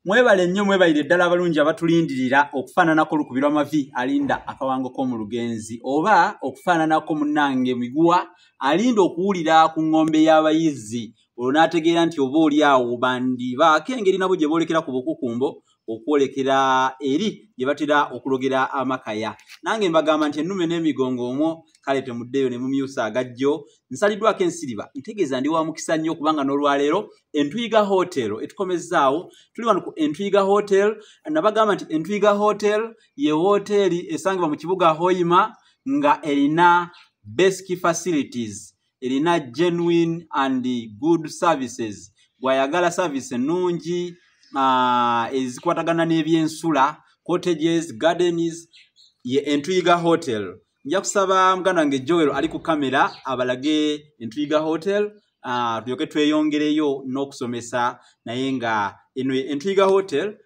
mwebale nnyo mwebalire ddala abalungi abatulindirira okufaananako olukubirwa amavi alinda akawango k'omu lugenzi oba okufaananako munnange miguwa alinda okuwulira ku ng'ombe y'abayizzi olwo n'ategeera nti oba oli awo bandibaako engeri nabo gye boolekera ku bukukumbo okwolekera eri gye batera okulogera amakaya nange mbagamba nti ennume n'emigongo omwo kale temuddeyo ne mumyusa agajjo nsaliddwako ensiriba ntegeeza ndi wa mukisa nnyo kubanga n'olwaleero entuyiga hotel etukomezzaawo tuli wano ku entuyiga hotel nabagamba nti entuyiga hotel ye wooteeri esangibwa mu kibuga hoima nga erina basic facilities erina genuine and good services bwayagala service ennungi uh, ezikwatagana n'ebyensula cottages gardens ye entuyiga hotel nja kusaba muganda wange joel ali ku kamera abalage entuyiga hotel uh, tulyoke tweyongereyo n'okusomesa naye nga eno entuyiga hotel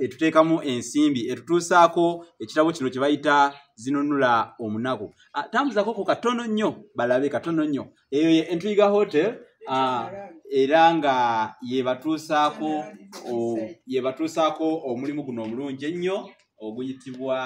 etuteekamu ensimbi etutuusaako ekitabo kino kye bayita zinunula omunaku ah, tambuzako ko katono nnyo balabe katono nnyo eyo ye entwiga hotel ah, era nga yebatuusaako yebatuusaako omulimu guno omulungi ennyo oguyitibwa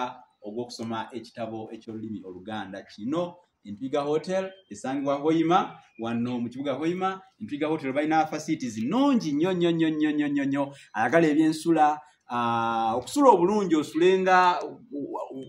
ogw'okusoma ekitabo eky'olulimi oluganda kino empiga hotel esangibwa hoima wano mu kibuga hoima empiga hotel balina facilities nungi nnyo nnyo nnyo nnyo nnyo nnyo nnyo ayagala ebyensula ah, okusula obulungi osulenga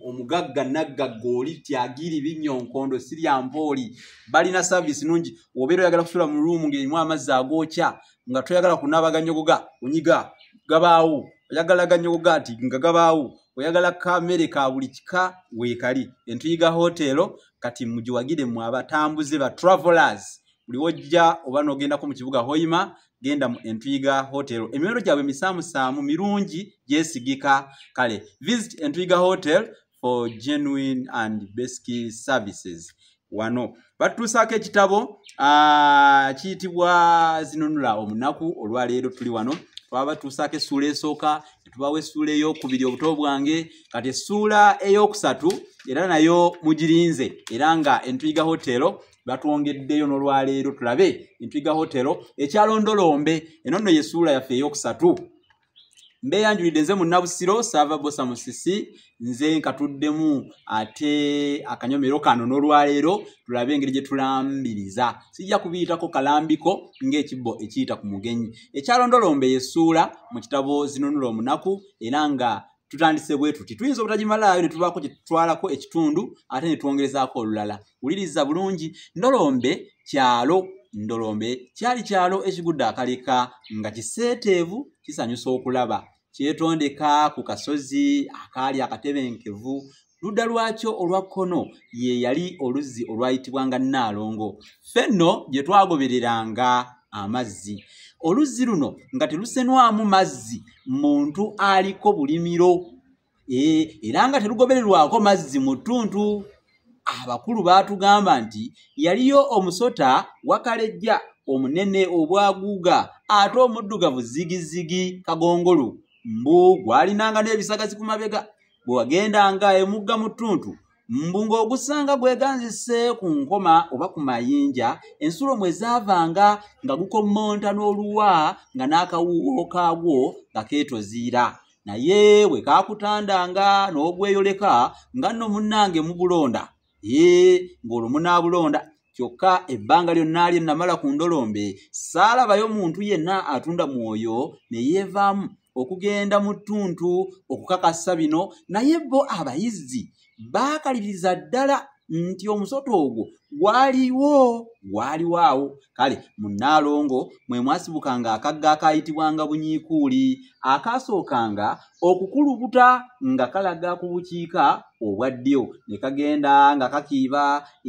omugagga naggagga oli tyagiri binnyo nkondo sirya mpooli balina service nungi obeera oyagala kusula mu ruumu ng'erimu amazzi agookya nga toyagala kunaaba ganyogoga onyiga gabaawo oyagala ganyogoga nti nga gabaawo oyagala kamere ka buli kika weekali entuyiga hoteero kati mugiwagire mu abatambuze ba travelers buli wojja oba n'ogendako mu kibuga hoima genda mu entuyiga hotel emiwendo gyabwe misaamusaamu mirungi gyesigika kale visit entuyiga hotel for genuine and basic services wano batutuusaako ekitabo kiyitibwa zinunula omunaku olwaleero tuli wano twaba batuusaako essuula esooka netubawo essuula eyokubiri obuto bwange kati essuula eyokusatu era nayo mugirinze era nga entuyiga hotelo batwongeddeyo nolwaleero tulabe entuyiga hotelo ekyalondolombe eno nno yesuula yaffe eyokusatu mbeyanjulidde nze munnabusiro saava bosa musisi nze nkatuddemu ate akanyomero kano n'olwaleero tulabe engeri gye tulambiriza sijja kubiyitako kalambiko ng'ekibbo ekiyita ku mugenyi ekyalondolomba eyesuula mu kitabo zinunula omunaku era nga tutandise bwe tuti tuyinza obutagimalaayo ne tubaako kye tutwalako ekitundu ate ne twongerezaako olulala wuliriza bulungi ndolombe kyalo ndolombe kyali kyalo ekigudde akaleka nga kiseeteevu kisanyusa okulaba kyetondeka ku kasozi akaali akatebenkevu ludda lwakyo olwa kkono ye yali oluzzi olwayitibwanga nnaalongo ffe nno gye twagobereranga amazzi oluzzi luno nga telusenwamu mazzi muntu aliko bulimiro e, era nga terugobererwako mazzi mu ttuntu abakulu baatugamba nti yaliyo omusota wakalejja omunene obwaguuga ate omuddugavu zigizigi kagongolu mbu gwalinanga n'ebisagazi ku mabega bwe wagendanga emugga mu ttuntu mbu ng'ogusanga gweganzise ku nkoma oba ku mayinja ensulo mwe zaavanga nga gukommonta n'oluwa nga n'akawuuwo kaagwo nga keetoziira naye bwe kaakutandanga n'ogweyoleka nga nno munnange mubulonda ee ng'olwo munaabulonda kyokka ebbanga lyonna lye namala ku ndolombe saalabayo muntu yenna atunda mwoyo ne yeevaamu okugenda mu ttuntu okukakasa bino naye bo abayizzi baakaliriza ddala nti omusota ogwo gwaliwo gwaliwo awo kale munnaalongo mwe mwasibukanga akagga akaayitibwanga bunyiikuuli akaasookanga okukulubuta nga kalaga ku bukiika obwa ddyo ne kagenda nga kakiiba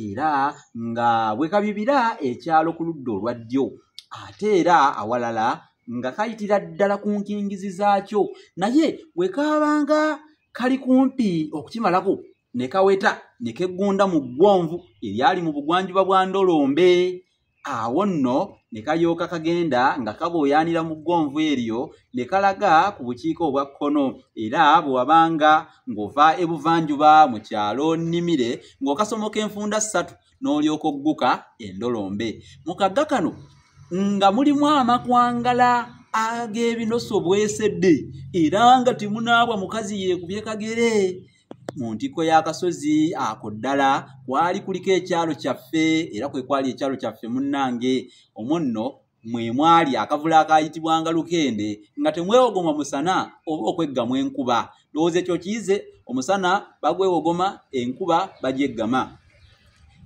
era nga bwe kabibira ekyalo ku ludda olwa ddyo ate era awalala nga kayitira ddala ku nkingizi zaakyo naye bwe kaabanga kali kumpi okukimalako ne kaweta ne keggunda mu ggwonvu eryali mu bugwanjuba bwa ndolombe awo nno ne kalyoka kagenda nga kabooyaanira mu ggwonvu eryo ne kalaga ku bukiika obwa kkono era bwe wabanga ng'ova ebuvanjuba mu kyalo nnimire ng'okasomoka enfunda ssatu n'olyoka ogguka endolombe mu kagga kano nga mulimu amakwangala ag'ebinoso bwesedde era nga temunaabwa mukazi yeekubye kagere mu ntikko y'akasozi ako ddala kwali kuliko ekyalo kyaffe era kwe kwali ekyalo kyaffe munnange omwo nno mwe mwali akavula akayitibwanga lukende nga temwewogoma musana oba okweggamu enkuba ndowooza ekyo kiyize omusana bagwewogoma enkuba bagyeggama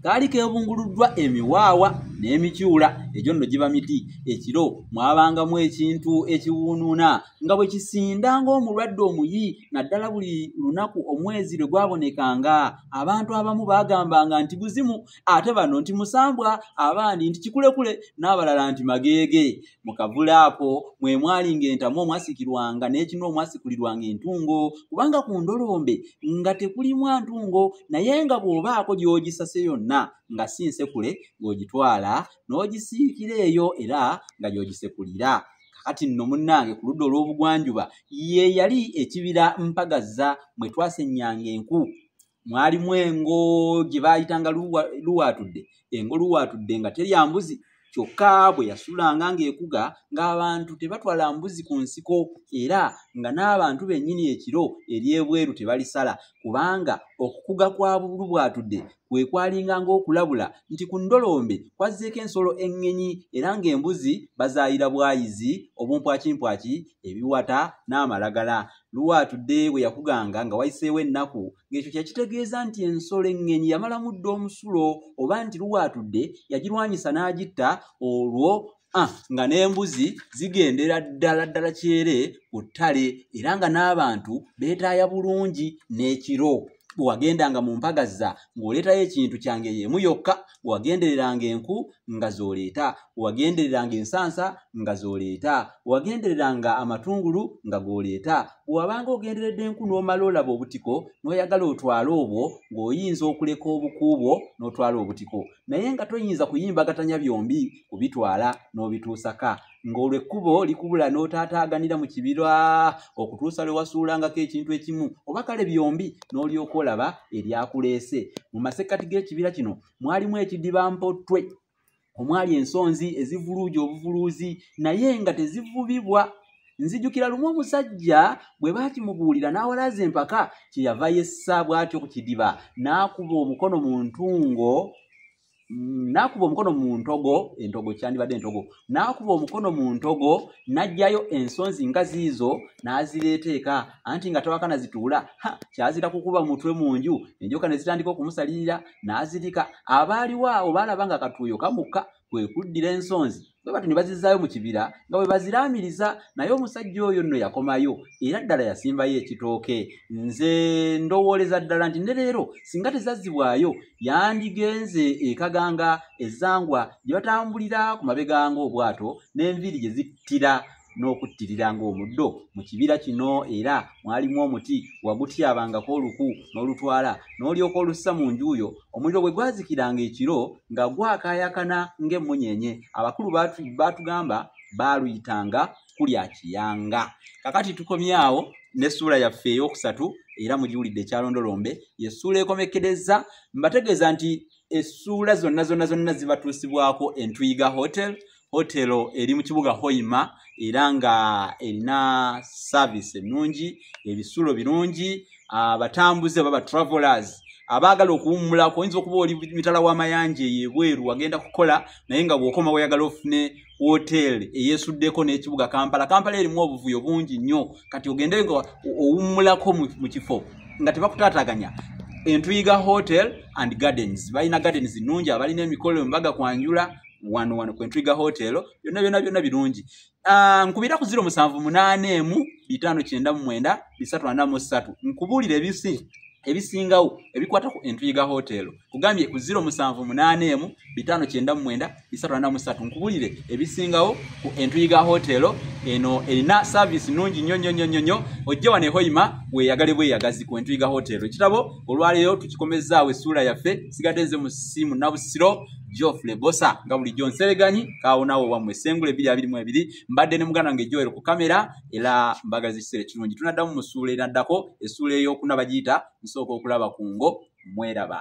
kaali kebunguluddwa emiwaawa n'emikyula egyo nno giba miti ekiro mwabangamu ekintu ekiwuunuuna nga bwe kisinda ng'omulwadde omuyi naddala buli lunaku omwezi lwe gwabonekanga abantu abamu baagambanga nti buzimu ate bano nti musambwa abandi nti kikulekule n'abalala nti mageege mu kavule ako mwe mwali ng'entamu omwasikirwanga n'ekinu omwasikulirwanga entungo kubanga ku ndolombe nga tekulimwa ntungo naye nga bw'obaako gy'ogisase yonna nga si nsekule ng'ogitwala n'ogisiikira eyo era nga gy'ogisekulira kati nno munnange ku ludda olw'obugwanjuba ye yali ekibira mpagazza mwe twasennyanga enku mwalimu engo gye baayitanga luwaatudde engo luwaatudde nga terya mbuzi kyokka bwe yasulanga ng'ekuga ng'abantu tebatwala mbuzi ku nsiko era nga n'abantu bennyini ekiro ery'ebweru tebalisala kubanga okukuga kwa luwaatudde kwe kwalinga ng'okulabula nti ku ndolombe kwazzeeko ensolo eŋŋenyi era ng'embuzi bazaayira bwayizi obumpwakimpwaki ebiwata n'amalagala luwaatudde bwe yakuganga nga wayiseewo ennaku ng'ekyo kye kitegeeza nti ensolo eŋŋenyi yamalamu dda omusulo oba nti luwaatudde yagirwanyisa n'agitta olwo ah, nga n'embuzi zigendera ddala ddala kyere ku ttale era nga n'abantu beetaaya bulungi n'ekiro bwewagendanga mu mpaga zza ng'oleetayo ekintu kyange y'emu yokka bwewagendereranga enku nga z'oleeta bwewagendereranga ensansa nga z'oleeta bwewagendereranga amatungulu nga g'oleeta bwewabanga ogenderedde enku n'omala olaba obutiko n'oyagala otwale obwo ng'oyinza okuleka obuku bwo n'otwala obutiko naye nga toyinza kuyimbagatanya byombi kubitwala n'obituusaka ng'olwo ekkubo likubula n'otaataaganira mu kibira okutuusa lwe wasuulangako ekintu ekimu oba kale byombi n'olyoka olaba eryakuleese mu masekkati g'ekibira kino mwalimu ekidiba mpottwe omwali ensonzi ezivuluuja obuvuluuzi naye nga tezivubibwa nzijukira lumu omusajja bwe baakimubuulira n'awalaaza empaka kye yava yessa bw'atyo ku kidiba n'akuba omukono mu ntungo mm, n'akuba omukono mu ntogo entogo kyandibadde entogo n'akuba omukono mu ntogo n'aggyayo ensonzi nga ziizo n'azireeta eka anti nga tawaka nazituula ha kyazira kukuba mutwe mu nju enjoka ne zitandika okumusalirira n'azirika abaaliwo awo baalaba nga katuuyo kamukka kwe kuddira ensonzi bwe batyo ne bazizaayo mu kibira nga bwe baziraamiriza naye omusajja oyo nno yakomayo era ddala yasimbayo ekitooke nze ndowooleza ddala nti ne leero singa tezazzibwayo yandigenze ekaganga ezangwa gye batambulira ku mabegango obwato n'enviiri gye zittira n'okuttirira ng'omuddo mu kibira kino era mwalimu omuti wagutyabangako oluku n'olutwala n'olyoka olussa mu njuuyo omuliro bwe gwazikiranga ekiro nga gwakaayakana ng'emmunyeenye abakulu baatugamba baaluyitanga kulya kiyanga kakati tukomyawo n'essuula yaffe ey'okusatu era mugiwulidde ekyalondolombe yessuula ekomekkereza mbategeeza nti essuula zonna zonna zonna zibatuusibwako entuyiga hotel hotelo eri mu kibuga hoima era nga erina saavisi ennungi ebisulo birungi abatambuze baba travelers abaagala okuwummulako oyinza okuba oli mitala w'amayanja eyo ebweru wagenda kukola naye nga bw'okoma weyagala ofune hotel eyesuddeko n'ekibuga kampala kampala erimu obuvuyo bungi nnyo kati ogende nga owummulako mu kifo nga tebakutaataganya entuyiga hotel and gardens balina gardens nnungi abalina emikolo embaga kwanjula wano wano kwentwiga hotel byonna byonna byonna birungi ah, nkubira ku ziro musanvu munaana emu bitaano kyenda mu mwenda bisatu ana mu ssatu nkubuulira ebisi ebisingawo ebikwata ku entwiga hotel kugambye ku ziro musanvu munaana emu bitaano kyenda mu mwenda bisatu ana mu ssatu nkubuulire ebisingawo ku entwiga hotel eno erina saaviisi nnungi nnyo nnyo nnyo nnyo nnyo ojje wano ehoima weeyagale bweyagazi ku entwiga hotel ekitabo olwaleero tukikomezaawo essuula yaffe sigadde nze mu simu nabusiro Geoffrey Bosa nga bulijjo nsereganyi kaawonawo wammwe essengula ebiri abiri mu ebiri mbadde ne muganda wange Joel ku kamera era mbagaliza ekiseera ekirungi tunaddamu mu ssuula enaddako essuula ey'okuna bagiyita nsooka okulaba ku ngo mweraba